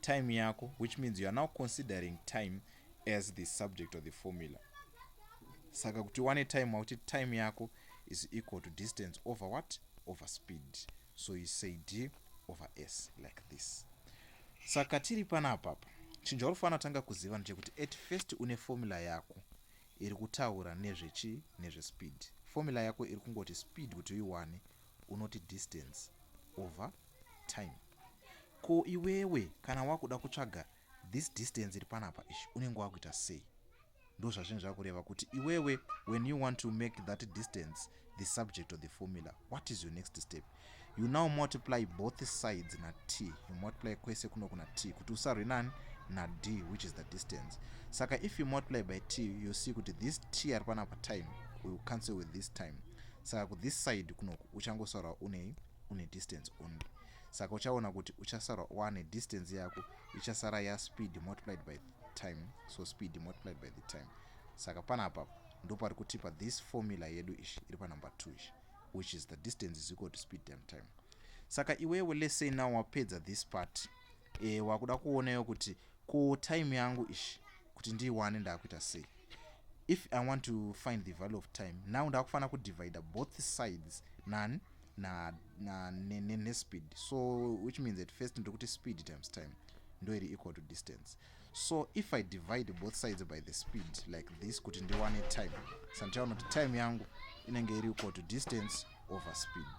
time yako which means you are now considering time as the subject of the formula saka kuti wane time wakuti time yako is equal to distance over what over speed so you say d over s like this saka tiri panapapa chinhu chaurifana tanga kuziva ndechekuti at first une formula yako iri kutaura nezvechi nezvespeed formula yako iri kungoti speed kuti uiwane unoti distance over time Ko iwewe kana wakuda kutsvaga this distance iri panapa ishi unenge wakuita sei? Ndozvazvinhu zvakureva kuti iwewe when you want to make that distance the subject of the formula what is your next step? You now multiply both sides na t you multiply kwese kuno kuna t kuti usarwe nani na d which is the distance. Saka if you multiply by t you see kuti this t ari panapa time will cancel with this time saka ku this side kunoku uchangosaura unei une distance only. saka uchaona kuti uchasara one distance yako ichasara ya speed multiplied by time so speed multiplied by the time saka panapa ndopari kutipa this formula yedu ishi iri panumber 2 ishi which is the distance is equal to speed time time saka iwewe let's say now wapedza this part e, wakuda kuonayo kuti ko time yangu ishi kuti ndiiwane ndakuita sei if i want to find the value of time now ndakufanira kudivida both sides nani na, na ne, ne, ne speed so which means at first ndiri kuti speed times time ndo iri equal to distance so if i divide both sides by the speed like this kuti ndiwane time sandichaona kuti time yangu inenge iri equal to distance over speed